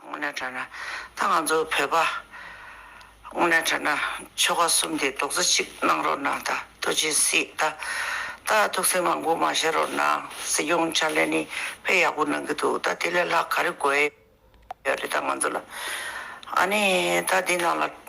དངོས་གནས་དྲན་ན་ད་ང་ཚོ་བོད་པ། དངོས་གནས་དྲན་ན་ཆོལ་ཁ་གསུམ་དེ་རྡོག་རྩ་གཅིག་གནང་རོགས་གནང་ད་ཐུགས་རྗེ་གཟིགས་ད་ད་ཐུགས་སེམས་མང་པོ་མ་བཞེས་རོགས་གནང་སྲིད་སྐྱོང་ཕྱག་ལས་ནི་དཔེ་ཡག་པོ་གནང་གི་འདུག་ད་དེ་ལས་ལྷག་ག་རེ་དགོས་ཡོད་རེད་ད་ང་ཚོ་ལ་ཨ་ནི་ད་འདི་ནང་ལ།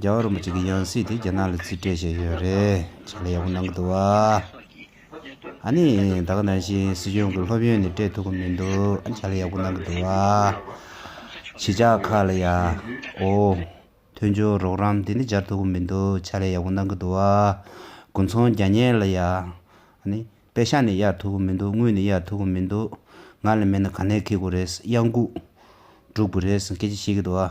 རྒྱ་གར་བ་གཅིག་གིས་ཡང་སྲིད་དེ་རྒྱ་ནག་ལ་རྩིས་སྤྲད་བྱས་ཡོད་རེད་ཅིག་ལ་ཡག་པོ་གནང་གི་འདུག་ཨ་ནི་ད་ག་ནང་བཞིན་སྲིད་སྐྱོང་གི་སློབ་ཡོན་ནི་སྤྲད་ཐུབ་ཀི་མི་འདུག་ཨ་ཅག་ལ་ཡག་པོ་གནང་གི་འདུག་བྱེད་ཅག་ཁ་ལ་ཡ་ཨོ། མཐུན་སྦྱོར་རོགས་རམ་དེ་ནི་སྦྱར་ཐུབ་ཀི་མི་འདུག་ཅག་ལ་ཡག་པོ་གནང་གི་འདུག་དགུན་ཚོང་རྒྱ་ཉལ་ལ་ཡ་ཨ་ནི་དཔེ་ཤག་ནི་གཡར་ཐུབ་ཀི་མི་འདུག་དངུལ་ནི་གཡར་ཐུབ་ཀི་མི་འདུག་ང་ལ་མེད་ན་ག་ནས་ཁེལ་དགོས་རེད་གཡང་འགུགས་སྒྲུབ་དགོས་རེད་སྐད་ཆ་བཤད་གི་འདུག།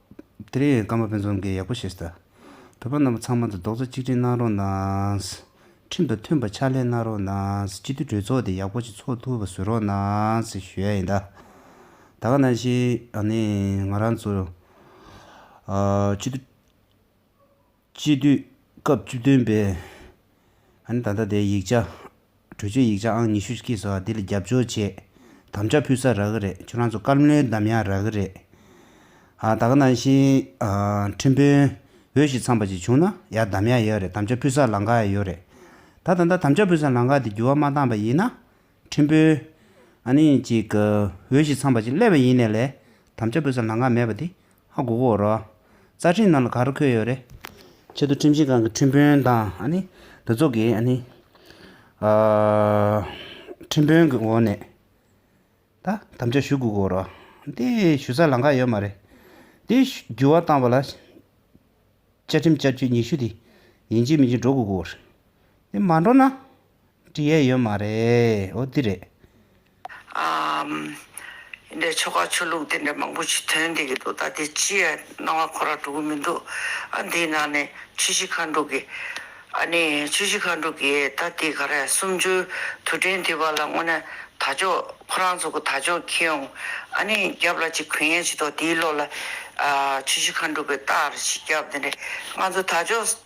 དེ་རིང་ཡང་སྐར་མ་དཔེ་མཚོན་འགའི་ཡག་པོ་བཤད་ཟླ། བོད་པ་རྣམས་པ་ཚང་མ་འདུ་རྡོག་རྩ་གཅིག་སྒྲིལ་གནང་རོགས་གནང། ཁྲིམས་དང་མཐུན་པ་ཕྱག་ལས་གནང་རོགས་གནང་སྤྱི་འཐུས་གྲོས་ཚོགས་དེ་ཡག་པོ་ཅིག་ཚོགས་ཐུབ་པ་བཟོས་རོགས་གནང་ཞུ་ཡ་ཡིན་ད། ད་ག་ནང་བཞིན་ང་རང་ཚོ་སྤྱི་འཐུས། སྤྱི་འཐུས་སྐབས་བཅུ་བདུན་པའི་ཨན་ད་ལྟ་དེའི་ཡིག་ཆ། གྲོས་ཆོད་ཡིག་ཆ་ཨང་ཉི་ཤུ་གཅིག་སོགས་འདི་ལ་རྒྱབ་སྐྱོར་བྱེད་དམ་བཅའ་ཕུལ་ས་རག་གི་རེད་ཁྱོད་རང་ཚོ་བཀའ་བློན་དམ་ཡང་རག་གི་རེད། ཨ་ད་ག་ནང་བཞིན་ཁྲིམས་དཔོན་འོས་ཞིག་ཚང་པ་ཅིག་བྱུང་ན་ཡང་དམ་ཡང་ཡོད་རེད་དམ་བཅའ་ཕུལ་ས་ལང་ག་ཡང་ཡོད་རེད། ད་ད་ལྟ་དམ་བཅའ་ཕུལ་ས་ལང་ག་དེ་འགྱུར་བ་མ་བཏང་པ་ཡིན་ན་ཕྲན་བུ། ཨ་ནི་ཅིག། འོས་ཤིག་ཚང་བ་ཅིག་གླས་པ་ཡིན་ནས་ལས། དམ་བཅའ་འབུལ་ས་ལང་ཀ་མེད་པ་འདི། ཧ་གོ་གོ་རོགས། རྩ་ཁྲིམས་ནང་ལ་ག་རུ་འཁོད་ཡོད་རེད། ཆེད་དུ་ཁྲིམས་ཞིབ་ཁང་གི་ཁྲིམས་དཔོན་དང་ཨ་ནི། འདི་ཚོ་གིས་ཨ་ནི། ཁྲིམས་དཔོན་གི་འོག་ནས། ད། དམ་བཅའ་ཞུ་གོ་གོ་རོགས། འདི། ཞུ་ས་ལང་ཀ་ཡོད་མ་རེད། འདི། འགྱུར་བ་བཏང་བ་ལ། བཅའ་ཁྲིམས་བསྐྱར་བཅོས་ཉི་ཤུ་འདི། ཡིན་གཅིག་མིན་གཅིག་འགྲོ་གོ་གོ། འདི་མ་འགྲོ་ན། བྲིས་ཡས་ཡོད་མ་རེད་འོ་འདི་རེད། ཨ། འདྲའི་ཆོ་ག་ཆོས་ལུགས་དེ་འདྲ་མང་པོ་ཞིག་ཐོན་བསྡད་ཀྱི་འདུག་ད་དེ་ཅི་ཡང་སྣང་བ་ཁོ་ར་འགྲོ་གི་མི་འདུག་ཨ་འདིའི་ནང་ནས་ཆུ་བཞི་མཁའ་འགྲོ་གི། ཨ་ནི་ཆུ་བཞི་མཁའ་འགྲོ་གི་ད་དེ་ག་ར་སུམ་བཅུའི་དུས་དྲན་དུས་བབ་ལ་དངོས་ན་ད་ཅོག་ཁོ་རང་ཚོ་གི་ད་ཅོག་ཁྱེད་ཡོང་ཨ་ནི་རྒྱབ་ལ་ཅིག་གུས་ཡན་བྱེད་དོ་དེའི་ལོགས་ལ། ཆུ་བཞི་མཁའ་འགྲོ་གི་རྟགས་རེ་ཞིག་རྒྱབ་དེ་འདྲས་ང་ཚོ་ད་ཅོག།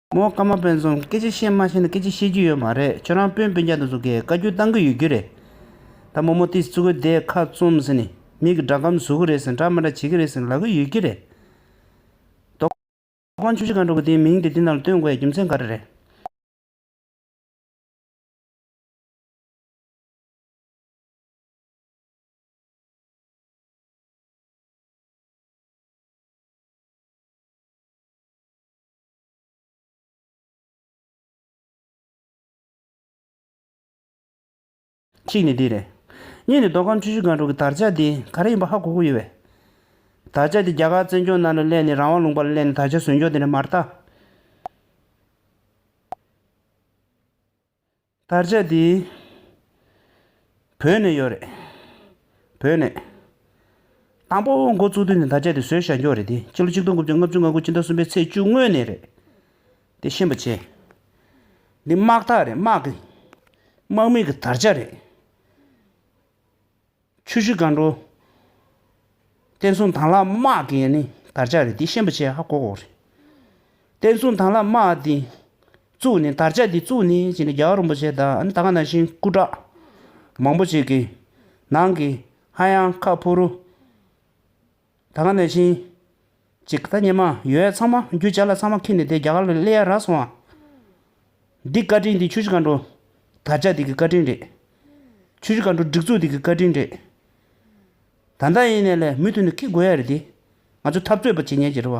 མོ་བཀའ་མ་སྤེན་ཚུང་སྐད་ཆ་བཤད་མ་ཤེས་ན་སྐད་ཆ་བཤད་རྒྱུ་ཡོད་མ་རེད་ཁྱོད་རང་སྤུན་སྤུན་རྒྱག་ཏུ་འཛུག་གི་བཀའ་རྒྱུ་གཏང་གི་ཡོད་རྒྱུ་རེད་ད་མོ་མོ་ཏིས་ཙི་གུ་དེས་ཁ་བཙུམ་ཟིན་ནས་མིག་གི་སྒྲ་གམ་བཟོ་གི་རེད་ཟེར་འདྲ་མི་འདྲ་བྱེད་ཀྱི་རེད་ཟེར་ལབ་གི་ཡོད་རྒྱུ་རེད། རྡོ་རྐང་ཆུ་བཞི་གང་འགྲོ་གི་དེའི་མིང་དེ་འདི་ནང་ལ་བཏོན་དགོས་ཡ་རྒྱུ་མཚན་ག་རེ་རེད། གཅིག་ནི་འདི་རེད། གཉིས་ནི་མདོ་ཁམས་ཆུ་བཞི་སྒང་དྲུག་གི་དར་ཆ་འདི་ག་རེ་ཡིན་པ་ཧ་གོ་གི་ཡོད་བས། དར་ཆ་འདི་རྒྱ་གར་བཙན་སྐྱོང་གནང་ལ་སླད་ནས་རང་དབང་ལུང་པར་སླད་ནས་དར་ཆ་ཟོས་མགྱོགས་དེ་འདྲ་མ་རྟགས། དར་ཆ་དེ་བོད་ནས་ཡོད་རེད། བོད་ནས། དང་པོ་འགོ་བཙུགས་དུས་ནས་དར་ཆ་དེ་བཟོས་བཞག་མགྱོགས་རེད་དེ་ཕྱི་ལོ་ཆིག་སྟོང་དགུ་བརྒྱ་ལྔ་བཅུ་ང་དགུ་ཕྱི་ཟླ་གསུམ་པའི་ཚེས་བཅུ་སྔོན་ནས་རེད། དེ་ཤེས་པ་བྱེད། འདི་དམག་ཐག་རེད་དམག་གི་དམག་མིག་གི་དར་ཆ་རེད། ཆུ་བཞི་མཁའ་འགྲོ། བསྟན་སྲུང་དྭངས་ལྷ་དམག་གི་ནི་དར་ཆ་རེད་དེ་ཤན་པ་ཆེ་ཧ་གོ་གོ་རེད། བསྟན་སྲུང་དྭངས་ལྷ་དམག་དེ་གཙུག་ནི་དར་ཆ་དེ་གཙུག་ནི་ཅི་ནི་རྒྱ་གར་རིན་པོ་ཆེ་དང་ད་ག་ནང་བཞིན་སྐུ་དྲག་མང་པོ་ཅིག་གི་ནང་གི་ཧ་ཡང་ཁ་ཕུ་རུ། ད་ག་ནས་ཕྱིན། ཅིག་ད་ཉི་མ་ཡོལ་བས་ཚང་མ་རྒྱུ་ཆ་ལ་ཚང་མ་ཁེངས་ནས་དེ་རྒྱ་གར་ལ་སླེ་ཡ་རག་སོང་ཨ། འདི་བཀའ་དྲིན་འདི་ཆུ་བཞི་མཁའ་འགྲོ། དར་ལྕག་འདི་གི་བཀའ་དྲིན་རེད། ཆུ་བཞི་མཁའ་འགྲོ་སྒྲིག་འཛུགས་འདི་གི་བཀའ་དྲིན་རེད། ད་ལྟ་ཡིན་ནས་ལས་མུ་མཐུད་ནས་ཁེ་དགོས་ཡ་རེད་དེ། ང་ཚོ་འཐབ་རྩོད་པ་བྱེད་ཉན་གྱི་རེད་བ།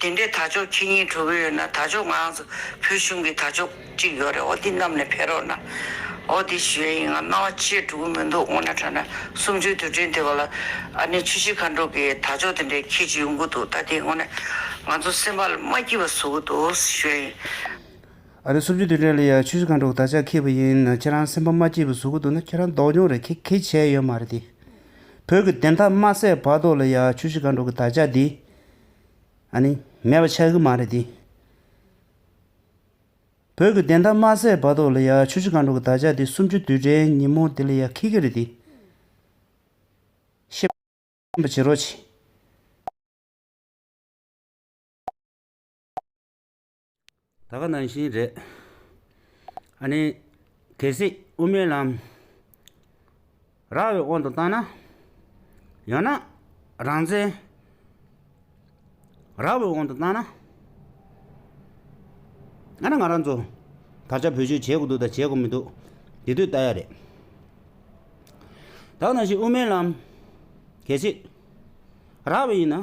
དེ་འདྲའི་དར་ལྕོག་ཁྱེད་གཉིས་གྲོལ་གི་ཡོད་ན་དར་ལྕོག་ང་ཚོ་བོད་གཞུང་གི་དར་ལྕོག་གཅིག་ཡོད་རེད་ཨོ་དེ་གནམ་ནས་འཕེལ་རོགས་གནང། ཨོ་དེ་ཞུ་ཡས་ཡིན་ང་སྣང་བ་ཆེས་འགྲོ་གི་མི་འདུག་སྔོ་ན་ཁྲ་ན་སུམ་ཅུའི་དུས་དྲན་དེ་བ་ལ། ཨ་ནེ་ཆུ་བཞི་མཁའ་འགྲོ་གི་དར་ལྕོག་དེ་འདྲའི་ཁྱེད་ཀྱི་ཡོང་གི་འདུག་ད་དེ་སྔོ་ན་ང་ཚོ་སེམས་པ་ལ་མ་སྐྱིད་པ་བཟོ་གི་འདུག་ཞུ་ཡས་ཡིན། ཨ་རེ་སུམ་ཅུ་དུས་དྲན་ལ་ཡང་ཆུ་བཞི་མཁའ་འགྲོ་གི་དར་ལྕག་ཁྱེར་བ་ཡིན་ན་ཁྱེད་རང་སེམས་པ་མ་སྐྱིད་པ་བཟོ་གི་འདུག་ན་ཁྱེད་རང་ལྡོག་མྱོང་རེད་ཁྱེད་ཁེ་བྱས་ཡོད་མ་རེད་དེ། བོད་ཀྱི་བདེན་མཐའ་མ་གསལ་བར་དོག་ལ་ཡང་ཆུ་བཞི་མཁའ་འགྲོ་གི་དར་ལྕག་འདི། ཨ་ནི། མེད་པ་ཆགས་ཀྱི་མ་རེད་དེ། བོད་ཀྱི་བདེན་མཐའ་མ་གསལ་བར་དོགས་ལ་ཡ་ཆུ་ཆུ་གང་འགྲོ་གི་དར་ཆ་དེ་སུམ་ཅུ་དུས་དྲན་ཉིན་མོ་འདི་ལ་ཡ་ཁེ་ཁེ་རེད་དེ། ཤེས་པ་བྱེད་རོགས་གྱིས། ད་ག་ནང་བཞིན་རེད། ཨ་ནི། གལ་སྲིད་དབུ་མའི་ལམ་རག་བའི་དབང་དུ་བཏང་ན། ཡང་ན་རང་བཙན་རག་བའི་དབང་དུ་བཏང་ན། ཨ་ནི་ང་རང་ཚོ་ད་ཆ་བོད་ཆོས་བྱེད་དགོས་འདུག་དང་བྱེད་དགོས་མི་འདུག་དེ་དུས་ལྟ་ཡ་རེད། ད་ག་ནང་བཞིན་དབུ་མའི་ལམ་གལ་སྲིད་རག་བའི་ཡིན་ན།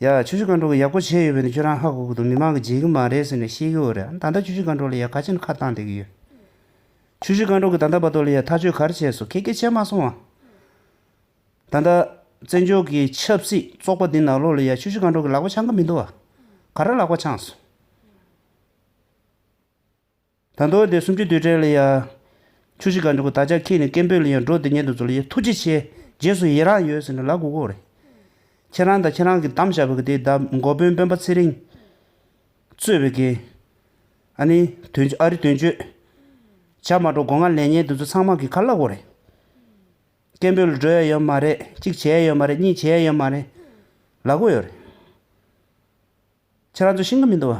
ཡ། ཆུ་བཞི་སྒང་དྲུག་གི་ཡག་པོ་བྱས་ཡོད་པས་ནི་ཁྱོད་རང་ཧ་གོ་གི་འདུག་མི་མང་གིས་བརྗེད་གི་མ་རེད་ཟེར་ནས་བཤད་ཀྱི་འོ་རེད་ཨང་ད་ལྟ་ཆུ་བཞི་སྒང་དྲུག་ལ་ཡ་ག་ཅི་ནས་ཁ་བཏང་བསྡད་ཀྱི་ཡོད། ཆུ་བཞི་སྒང་དྲུག་གི་ད་ལྟ་བར་དོ་ལ་ཡ་ཐག་གཅོད་ག་རེ་བྱས་སོང་ཁྱེད་སྐད་ཆ་མ་སོང་ཨང། ད་ལྟ། བཙན་བྱོལ་གྱི་ཆབ་སྲིད་བཙོག་པ་འདི་ནག་ལོ་ལ་ཡ་ཆུ་བཞི་སྒང་དྲུག་གི་ལག་པ་འཆང་གི་མི་འདུག་ཨ། ག་རེ་ལག་པ་འཆང་སོང། ད་དོ་དེ་སུམ་ཅུ་དུས་དྲན་ལ་ཡ། ཆུ་བཞི་ག་འགྲོ་གི་ད་ཆ་ཁྱེད་ནི་སྐད་འབོད་ལ་ཡང་འགྲོ་དེ་ཉན་དུ་འཛུལ་ཡེ་ཐུགས་རྗེ་ཆེ་རྗེས་སུ་ཡི་རངས་ཡོད་ཟེར་ནས་ལག་དགུ་བསྐོར། ཁྱེད་རང་དང་ཁྱེད་རང་གི་དམ་བཅའ་བའི་དགེ་སྡེ་ཟླ་འགོ་དཔོན་དཔོན་པ་ཚེ་རིང། གཙོས་པའི་དགེ། ཨ་ནི། དོན་ཨ་རི་དོན་གཅོད། བྱ་མ་འགྲོ་དགོ་ང་ལས་ཉན་དུ་འཛུལ་ཚང་མ་གི་ཁ་ལག་བསྐོར། སྐད་འབོད་ལ་འགྲོ་ཡ་ཡོད་མ་རེད་གཅིག་བྱེད་ཡ་ཡོད་མ་རེད་གཉིས་བྱེད་ཡ་ཡོད་མ་རེད། ལག་དགུ་ཡོད་རེད། ཁྱེད་རང་ཚོ་ཤེས་ཀྱི་མི་འདུག་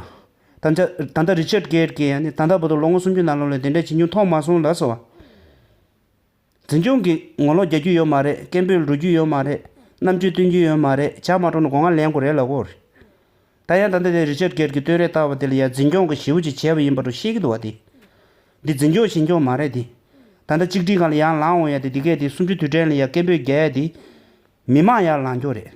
བ། ད་ལྟ་རི་ཆར་གྷེར་གྱིས་ཡང་ནི་ད་ལྟ་བོ་དོར་ལོ་ངོ་སུམ་ཅུ་ནང་ལོགས་ལས་དེ་འདྲའི་བྱེད་མྱོང་མཐོང་མ་སོང་ལ་སོ། འཛིན་སྐྱོང་གིས་ངོ་ལོག་རྒྱག་རྒྱུ་ཡོད་མ་རེད་སྐད་འབོད་འགྲོ་རྒྱུ་ཡོད་མ་རེད་རྣམ་དཔྱོད་སྟོན་རྒྱུ་ཡོད་མ་རེད་ཇག་མ་དྲོངས་ན་སྒོ་ང་ལེན་དགོས་རེད་ལ་གོ། ད་ཡང་ད་ལྟ་དེ་རི་ཆར་གྷེར་གྱིས་བསྟོད་རེས་བཏགས་པ་དེ་ལ་ཡང་འཛིན་སྐྱོང་གིས་ཞེ་བོ་ཅིག་བྱས་པ་ཡིན་པ་དྲོ་ཤེས་ཀྱི་འདུག་བ་དེ། འདི་འཛིན་སྐྱོང་ཞེན་སྐྱོང་མ་རེད་དེ། ད་ལྟ་གཅིག་སྒྲིལ་ཁང་ལ་ཡང་ལངས་འོང་ཡ་དེ་འདི་གས་དེ་སུམ་ཅུ་དུས་དྲན་ལ་ཡང་སྐད་འབོད་རྒྱག་ཡ་དེ། མི་མང་ཡར་ལངས་རྒྱུ་རེད།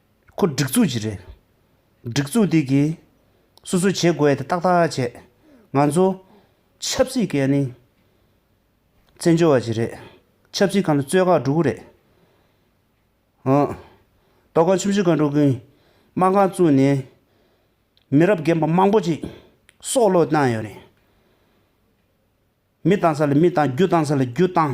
ཁོ་སྒྲིག་འཛུགས་ཀྱི་རེད། སྒྲིག་འཛུགས་དེ་གིས་སོ་སོའི་བྱེད་དགོས་དེ་ཏག་ཏག་བྱས། ང་ཚོ་ཆབ་སྲིད་ཀྱི་ནི་བཙན་བྱོལ་བ་ཞིག་རེད། ཆབ་སྲིད་ཁང་དུ་གཙོས་ཁག་དྲུག་གི་རེད། ཨོ། ལྟོ་ཁང་ཆུང་ཆུང་ཁག་དྲུག་གིས་དམག་ཁང་བཙུགས་ནས་མི་རབས་རྒན་པ་མང་པོ་ཅིག་སྲོག་བློས་བཏང་ཡོད་རེད། མི་བཏང་ས་ལ་མི་བཏང་རྒྱུ་བཏང་ས་ལ་རྒྱུ་བཏང།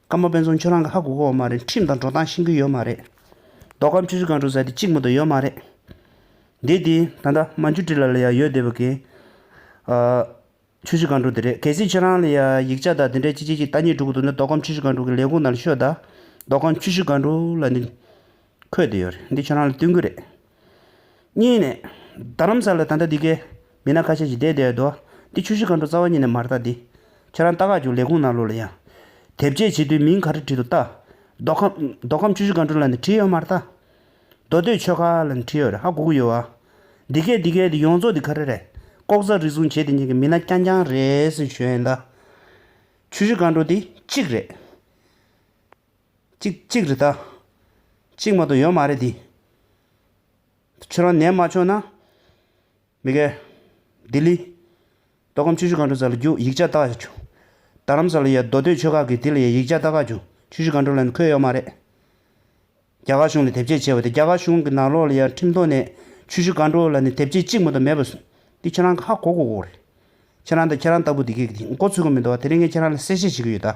བཀའ་མོལ་དཔེ་མཚོན་ཁྱོད་རང་གི་ཧ་གོ་གོ་བ་མ་རེད་ཁྲིམས་དང་འགྲོ་སྟངས་ཤེས་གི་ཡོད་མ་རེད། རྡོ་ཁམ་ཆུ་ཆུ་གང་དྲུག་ཟེར་དེ་གཅིག་མོ་དོ་ཡོད་མ་རེད། འདི་དེ་ད་ལྟ་རྨ་འཇུ་བཀྲིས་ལ་ལ་ཡ་ཡོད་དེ་བ་གན། ཆུ་ཆུ་གང་དྲུག་དེ་རེད་གལ་སྲིད་ཁྱོད་རང་ལ་ཡ་ཡིག་ཆ་དང་དེ་འདྲའི་ཅི་ཅི་ཅི་ལྟ་ཉེས་གྲུག་གི་འདུག་ན་རྡོ་ཁམ་ཆུ་ཆུ་གང་དྲུག་གི་ལས་ཁུངས་ནང་ཤོད་ད་རྡོ་ཁམ་ཆུ་ཆུ་གང་དྲུག་ལ་ནི། འཁོད་དུ་ཡོད་རེད་འདི་ཁྱོད་རང་ལ་བསྟུན་གི་རེད། གཉིས་ནས། རྡ་རམ་ས་ལ་ད་ལྟ་འདི་གའི་མི་སྣ་ཁ་ཤས་ཤིག་བསྡད་བསྡད་ཡོད་འདུག་འདི་ཆུ་བཞི་མཁའ་འགྲོ་རྩ་བ་ཉིད་ནས་མ་བལྟ་འདི། ཁྱེད་རང་ལྟ་ཁག་ཅིག་ལས་ཁུངས་ནང་ལོགས་ལ་ཡང། དེབ་སྐྱེལ་བྱེད་དུས་མིང་ག་རེ་བྲིས་འདུག་བལྟ། མདོ་ཁམས། མདོ་ཁམས་ཆུ་བཞི་མཁའ་འགྲོ་ལ་ནི་བྲིས་ཡོད་མ་རེད་ད། མདོ་སྟོད་ཆོས་ཁ་ལ་ནི་བྲིས་ཡོད་རེད་ཧ་གོ་གི་ཡོད་ཨ། འདི་གའི་འདི་གའི་འདི་ཡོངས་རྫོགས་འདི་ག་རེ་རེད། ལྐོག་ཟ་རིག་གཟུང་བྱེད་དེ་གཉིས་ཀྱི་མི་སྣ་རྐྱང་རྐྱང་རེད་ཟེར་ཞུ་ཡོད་ཨེ་འདའ། ཆུ་བཞི་མཁའ་འགྲོ་འདི་གཅིག་རེད། གཅིག་གཅིག་རེད་ད། གཅིག་མ་གཏོགས་ཡོད་མ་རེད་དེ། ཁྱོད་རང་ནད་མ་ཆོག་ན། མི་སྒེར། ལྡི་ལི། མདོ་ཁམས་ཆུ་ཤུར་སྒང་དྲུག་ས་ལ་རྒྱུག་ཡིག་ཆ་བལྟ་ཆོག། རྡ་རམ་ས་ལ་ཡའི་མདོ་སྟོད་ཆོལ་ཁ་གི་དེ་ལ་ཡའི་ཡིག་ཆ་བལྟ་ཁ་ཆོག་ཆུ་ཤུར་སྒང་དྲུག་ལ་ནི་ཁོས་ཡོད་མ་རེད། རྒྱ་གར་གཞུང་ལ་དེབ་སྐྱེལ་བྱས་བ་དེ་རྒྱ་གར་གཞུང་གི་ནང་ལོགས་ལ་ཡར་ཁྲིམས་ཐོག་ནས་ཆུ་ཤུར་སྒང་དྲུག་ལ་ནི་དེབ་སྐྱེལ་གཅིག་མ་གཏོགས་མེད་པ་སོང་འདི་ཁྱོད་རང་གི་ཧ་གོ་གོ་གོ་རེད། ཁྱེད་རང་དང་ཁྱེད་རང་ལྟ་བུ་འདི་གའི་འགོ་ཚུགས་ཀྱི་མི་འདུག་བ་དེ་རིང་གི་ཁྱེད་རང་ལ་གསལ་བཤད་བྱེད་ཀྱི་ཡོད་ད།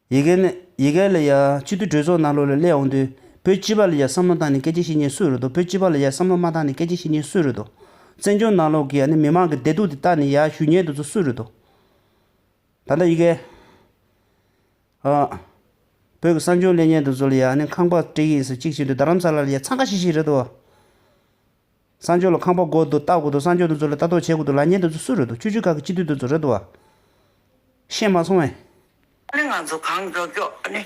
ཡི་གེ་ནི། ཡི་གེ་ལ་ཡ། སྤྱི་འཐུས་གྲོས་ཚོགས་ནང་ལོ་ལ་སླེབས་འོང་དུས། བོད་སྤྱི་བ་ལ་ཡ་བསམ་བློ་བཏང་ནས་སྐད་ཆ་བཤད་ཉེན་སུས་རུད་དོ་བོད་སྤྱི་བ་ལ་ཡ་བསམ་བློ་མ་བཏང་ནས་སྐད་ཆ་བཤད་ཉེན་སུས་རུད་དོ། བཙན་བྱོལ་ནང་ལོག་གི་ཨ་ནི་མི་མང་གི་བདེ་སྡུག་དེ་བལྟ་ནས་ཡ་ཞུ་ཉེན་འདུག་ཚུལ་སུས་རུད་དོ། ད་ལྟ་ཡི་གེ། ཨ། བོད་ཀྱི་གསང་སྤྱོང་ལས་ཉེན་འདུག་ཚུལ་ཡ་ཨ་ནི་ཁང་པ་སྤྲེ་ཡིན་ཟེར་གཅིག་བྱས་འདུག་རྡ་རམ་ས་ལ་ལ་ཡ་འཚང་ཁ་ཤིག་ཤིག་རེད་དོ། གསང་སྤྱོད་ལ་ཁང་པ་སྒོ་དུ་བཏགས་དགོས་འདུག་གསང་སྤྱོད་དེ་ཚོ་ལ་ལྟ་རྟོག་བྱེད་དགོས་འདུག་ལ་ཉེ་དེ་ཚོ་སུ་རེད་འདུག་སྤྱི་འཐུས་ཁག་གི་སྤྱི་འཐུས་དེ་ཚོ་རེད་འདུག་བ། ཤེས་མ་སོང་བས། ཨ་ནི་ང་ཚོ་གང་མགྱོགས་མགྱོགས་ཨ་ནི་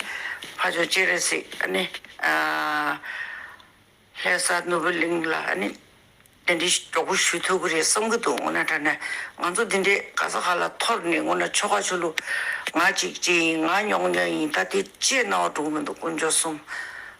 ཕ་ཆོས་ཅི་རེད་སྲིད་ཨ་ནི། ལྷས་ས་ནོར་བུ་གླིང་ལ་ཨ་ནི་དེ་འདྲའི་གྲོགས་པོ་ཞུས་ཐུབ་ཀི་རེད་བསམ་གི་འདུག་འོ་ན་ད་ནས་ང་ཚོ་དེ་འདྲའི་ག་ས་ག་ལ་ཐོར་ནས་འོ་ན་ཆོལ་ཁ་ཆོལ་ལུགས་ང་གཅིག་ཅི་ཡིན་ང་ཉོག་ཉོག་ཡིན་ད་དེ་བཅས་གནང་བ་འགྲོ་གི་མི་འདུག་དཀོན་མཆོག་གསུམ།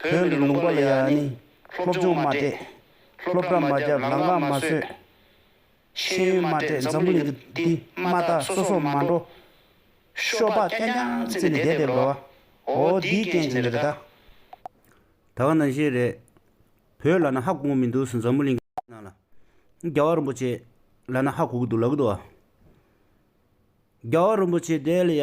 བོད་མི་ལུང་པ་ལ་ཡང་ནི། སློབ་སྦྱོང་མ་སྤྲད། སློབ་གྲྭ་མ་བརྒྱབ་ལམ་ཁ་མ་བཟོས། ཤེས་ཡོན་མ་སྤྲད་འཛམ་བུ་གླིང་གི་འདི་མ་ད་སོ་སོ་མ་འགྲོ། ཤོ་པ་གཏན་དྲངས་བརྩིས་ནས་བསྡད་བསྡད་འགྲོ། འོ་འདིའི་རྐྱེན་གྱིས་རེད་ད། ད་ག་ནང་བཞིན་རེད། བོད་ལ་ན་ཧ་གོང་མི་འདུག་སུ་འཛམ་བུ་གླིང་གི་ནང་ལ། རྒྱ་བ་རིན་པོ་ཆེ། ལ་ན་ཧ་གོ་གི་འདུག་ལབ་གི་འདུག་ཨ། རྒྱ་བ་རིན་པོ་ཆེ་བསྡད་ལ་ཡ།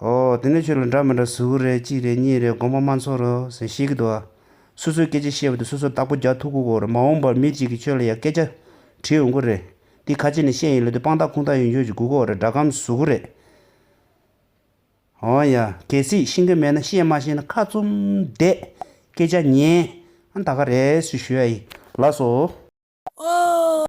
ཨོ། དེ་ནས་ཁྱོད་ལ་འདྲ་མི་འདྲ་གཟུགས་དགུ་རེད་གཅིག་རེད་གཉིས་རེད་དགོངས་པ་མ་འཚོར་རོ་ཟེར་ཤེས་ཀྱི་འདུག་ཨ། སོ་སོའི་སྐད་ཆ་ཤེས་པ་དེ་སོ་སོར་བརྟག་པོ་རྒྱག་ཐུབ་ཁུག་གོ་རེད་མ་འོངས་པར་མི་གཅིག་གིས་ཁྱོད་ལ་ཡང་སྐད་ཆ་དྲིས་འོང་གི་རེད། འདི་ཁ་ཆེ་ནས་བཤད་ཡིན་ལོས་དེ་དཔང་རྟགས་ཁུངས་རྟགས་ཡོད་ཁྱོད་ཀྱིས་སྒུག་གོ་རེད་སྒྲ་སྒམ་གཟུགས་དགུ་རེད། ཨོ་ཡ། གལ་སྲིད་ཤེས་ཀྱི་མེད་ན་བཤད་མ་ཤེས་ན་ཁ་བཙུམ་བསྡད། སྐད་ཆ་ཉན། ཨ་ད་ག་རེ་སུས་ཞུ་ཨ་ཡིན་ལགས་སོ། ཨོ།